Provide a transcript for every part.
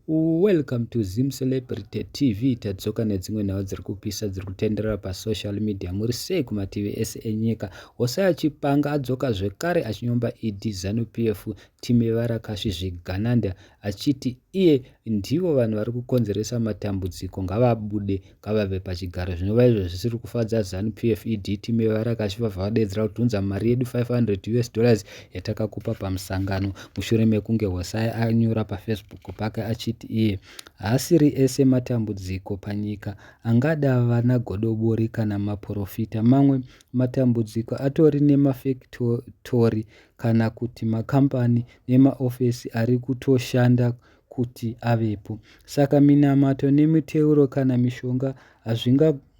Welcome to Zim Celebrity TV tadzoka nedzimwe nhau dziri kupisa dziri kutenderera pasocial media muri sei kumativi ese enyika Hosea Chipanga adzoka zvekare achinyomba ED Zanu PF Timi Varakasvi Zvigananda achiti iye ndivo vanhu vari kukonzeresa matambudziko ngavabude ngavabve pachigaro zvinova izvo zvisiri kufadza zanu pf ed team yevarakashi vabva vadedzera kuti unza mari yedu 500 us dollars yatakakupa pamusangano mushure mekunge hosai anyura pafacebook pake achiti iye haasiri ese matambudziko panyika angada vana godobori kana maporofita mamwe matambudziko atori nemafektori kana kuti makambani nemaofesi ari kutoshanda kuti avepo. Saka minamato nemiteuro kana mishonga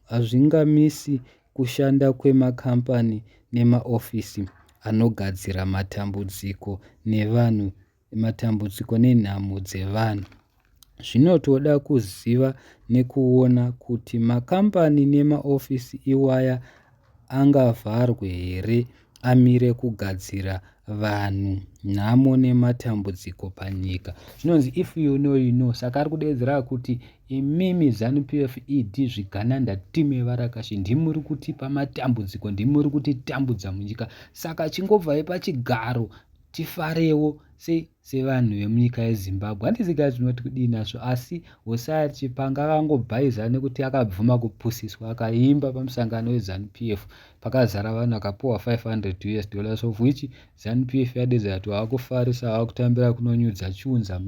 hazvingamisi kushanda kwemakambani nemaofisi anogadzira matambudziko nevanhu matambudziko nenhamo dzevanhu. Zvinotoda kuziva nekuona kuti makambani nemaofisi iwaya angavharwe here amire kugadzira vanhu nhamo nematambudziko panyika zvinonzi if you know you know saka ari kudeedzera kuti imimi zanu pf ed zvigananda time varakashi ndimuri kutipa matambudziko ndimuri kutitambudza munyika saka chingobvai pachigaro tifarewo se sevanhu vemunyika yezimbabwe handisi guys tinoti kudii nazvo asi hosaya chipanga akangobhaiza nekuti akabvuma kupusiswa akaimba pamusangano wezanupf pakazara vanhu akapuwa 500 us dollars of which zanupf yadedza kuti waakufarisa waakutambira kunonyudza chiunza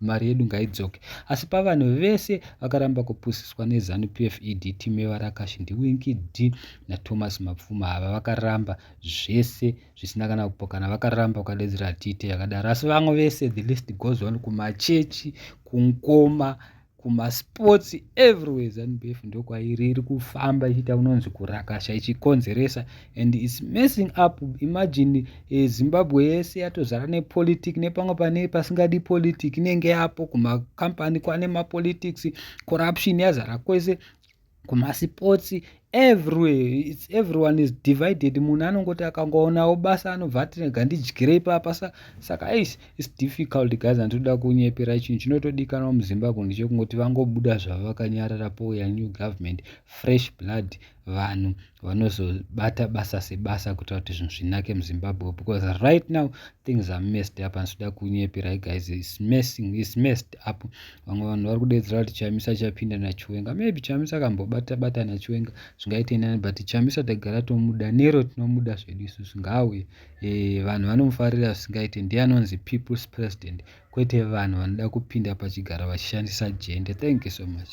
mari yedu ngaidzoke asi pavanhu vese vakaramba kupusiswa nezanupf ed time varakashi ndiwinki d nathomas mapfuma ava vakaramba zvese zvisina kana kupokana vakaramba vakadedzera tite yakadaro asi vamwe vese the list goes on kumachechi kunkoma kumasports everywhere zanb f ndokwairi iri kufamba ichiita kunonzi kurakasha ichikonzeresa and its messing up imagine eh, zimbabwe yese yatozara nepolitic nepamwe pane pasingadi politic inenge yapo kumacompany kwane mapolitics corruption yazara kwese kumasipotsi everywhere its everyone is divided munhu anongoti akangoonao basa anobva atirega ndidyire ipapa saka ais its difficult guys anditoda kunyepera chinhu chinotodikanwa muzimbabwe ndechekungoti vangobuda zvavo vakanyarara pouya new government fresh blood vanhu vanozobata basa sebasa kuitira kuti zvinhu zvinake muzimbabwe because right now things are messed up handisida kunyepera guys is messing is messed up vamwe vanhu vari kudedzera kuti chamisa chapinda nachiwenga maybe chamisa akambobata bata nachiwenga zvingaite nani but chamisa tagara tomuda nero tinomuda zvedu isusu ngaauye e, eh, vanhu vanomufarira zvisingaite ndiye anonzi people's president kwete vanhu vanoda kupinda pachigara vachishandisa jende thank you so much